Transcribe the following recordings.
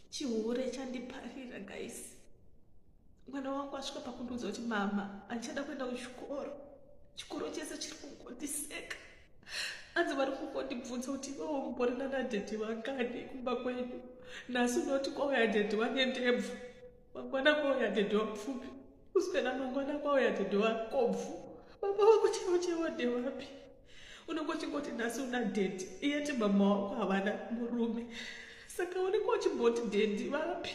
chihure chandiparira guys mwana wangu asvika pakundiudza kuti mama andichada kuenda kuchikoro chikoro chese chiri kungondiseka anzi vari kungondibvunza kuti iwewo mborina nadhedhi vangani kumba kwedu nhasi unoti kwauya dhedhi wange ndebvu mangwana kwauya dhedhi wapfupi kuswena mangwana kwauya dhedhi wakobvu baba wako chewo chewo ndewapi unongochingoti nhasi una dedi iyeti mama wako havana murume saka unenge uchimboti dedi vapi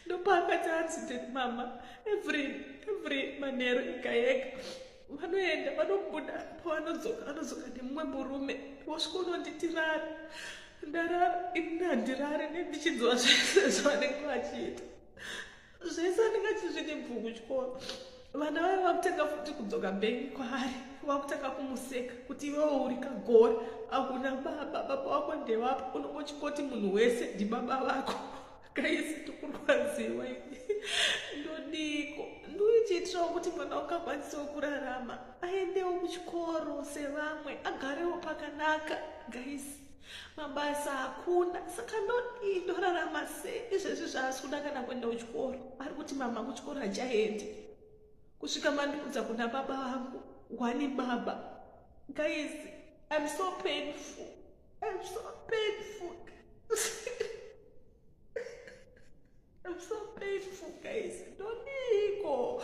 ndopaakati anzi dedi mama every every manheru ega yega vanoenda vanobuda pavanodzoka anodzoka nemumwe murume wasvika unonditirara ndarara ini handirare nendichinzwa zvese zvavanenge vachiita zvese andinga chizvine bvuku chikoro vana vaye vakutanga futi kudzoka bhengi kwaari vakutanga kumuseka kuti iwewo uri kagori akuna baba baba wako ndevapa unongochingoti munhu wese ndibaba vako kaisi tikurwadziwa ndodiko ndoichiitirawo kuti mwana ungakwanisawo kurarama aendewo kuchikoro sevamwe agarewo pakanaka gaisi mabasa hakuna saka ndodii ndorarama sei izvezvi zvaasi kuda kana kuenda kuchikoro ari kuti mama kuchikoro hachaendi kusvika mandiudza kuna baba vangu wani baba guys im so painful im so painful im so painful guys ndoniiko